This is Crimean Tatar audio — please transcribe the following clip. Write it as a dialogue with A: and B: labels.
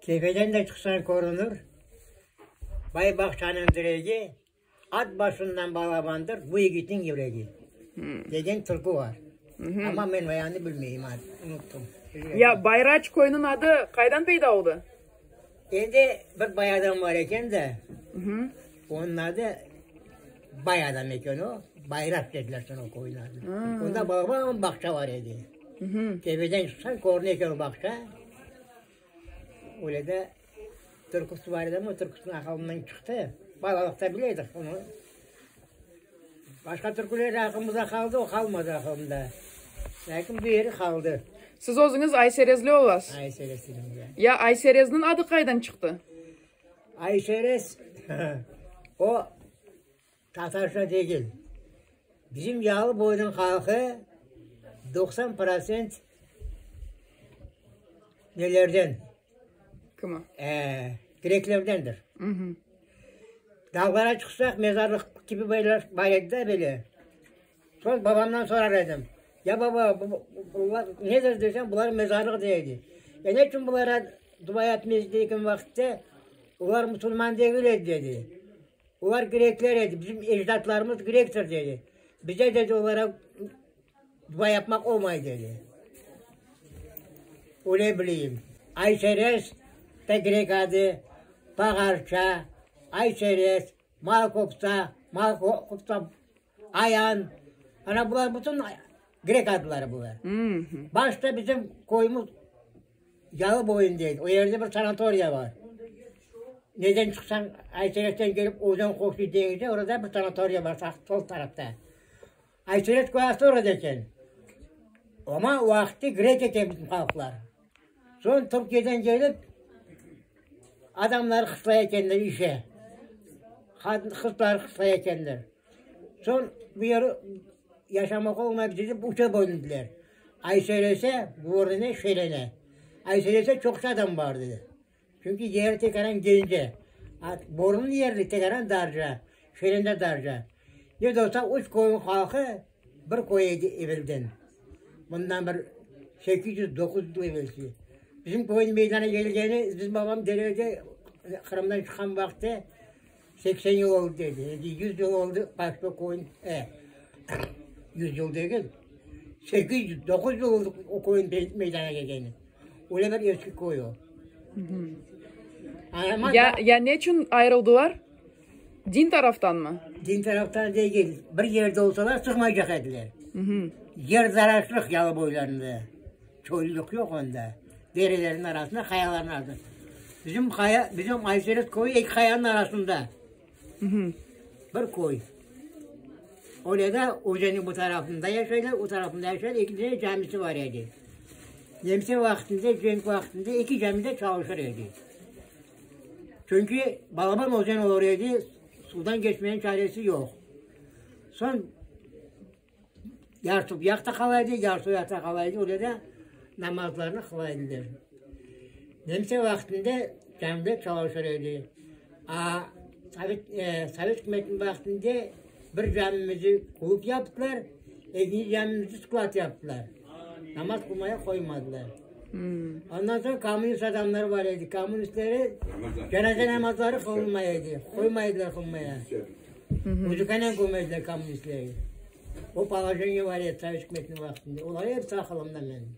A: Tepeden de çıqsañ körünir, Bay-bağçanıñ diregi, At başından balabandır bu yigitniñ yüregi, degen türkü bar. Amma men bayanını bilmeyim, unuttum. Ya Bayraç köyüniñ adı qaydan peyda oldı? Endi bir bay adam bar eken de, onıñ adı. Bay adam eken o, Bayrat dediler soñ o köyniñ adını. Onda bağban bağça bar edi. Tepeden çıqsañ, körüne eken o bağça. Öyle de türküsi bar edi ama o türküsiniñ aqılından çıqtı. Balalıqta bile edik onı. Başqa türküler aqılımızda qaldı, o qalmadı aqılımda. Lâkin bu yeri qaldı. Siz özüñiz ayserezli olasız? Ayserezliyim, ya. Ya ayserezniñ adı qaydan çıqtı? Ayşeres, o tatarca degil, bizim Yalıboyniñ halqı doqsan prosent nelerden, greklerdendir. Dağlara çıqsaq, mezarlıq kibi bar edi de böyle, Soñ babamdan sorar edim, Ya baba, bunlar nedir desem, bular mezarlıq dey edi. Ya ne içün bulara dua etmeysiz degen vaqıtta, Bular musulman degil edi dedi. Bular grekler edi, bizim ecdatlarımız grektir dedi. Bize dedi olara dua yapmaq olmay dedi. Öyle bileyim. Ayseres de grek adı, Pağarça, Ayseres, Malkofta, Malkofta. Ayan, ana bular bütün grek adları bular. Başta bizim köyümüz Yalıboyun deyil, o yerde bir sanatoriya bar. Neden çıqsañ, Ayseret'ten kelip özen qoşu deñizde, orada bir sanatoriya bar, sağ sol tarafta. Ayseret köyası orada eken. Amma vaqıtı grek eken bizim halqlar. Soñ Türkiyeden kelip, adamları qısla ekenler işe. Qızları qısla ekenler. Soñ bu yer yaşamağa olmay bitirip, üçe bölündiler. Ayselese, Vorine, Şelene. Ayselese çoqça adam bar edi. Çünki yeri tekaran gence, a borunlı yerli tekaran darja, şerende darja. Ne de olsa, üç köyüñ halqı bir köy edi evelden. Bundan bir sekiz yüz, doquz yüz yıl evelsi. Bizim köyniñ meydana kelgeni, bizim babam Derede Qırımdan çıqqan vaqıtı. Seksen yıl oldı dedi, ya da yüz yıl oldı, başqa qoyun, e, yüz yıl degil, sekiz yüz, doquz yıl oldı o qoyun meydana kelgeni. Öyle bir eski köy o. Anama Ya, ya ne için ayrıldılar? Din taraftan mı? din taraftan degil, bir yerde olsalar çıqmaycaq ediler. Yer zararsız yalı boylarında. Köylülük yoq onda. Derelerniñ arasında, qayalarnıñ arasında. Bizim qaya, bizim Ayseret köyü eki qayanıñ arasında. Bir köy. Öyle de özeniñ bu tarafında yaşaylar, o tarafında yaşaylar, eki tane camisi bar edi. Nemse vaqtında, cenk vaqtında eki cami de çalışır edi. Çünki balaban özen olur edi, sudan keçmenin çaresi yoq. Soñ, Yartı uyaqta qala edi, yartı uyaqta qala edi, öyle de namazlarını qıla ediler. Nemse vaqtında cami çalışır edi. Aa, sovet, e, sovet ükümetiniñ vaqtında bir camimizni klub yaptılar, ekinci camimizni sklad yaptılar. Namaz qılmaya qoymadılar. Ondan soñ kommunist adamları bar edi, kommunistleri cenaze namazları qılınmay edi, qoymay ediler qılmaya. Müdükane kömezler kommunistlerge. O polojeniye var edi sovet ükümetiniñ vaqtında. Olar episi aqılımda menim.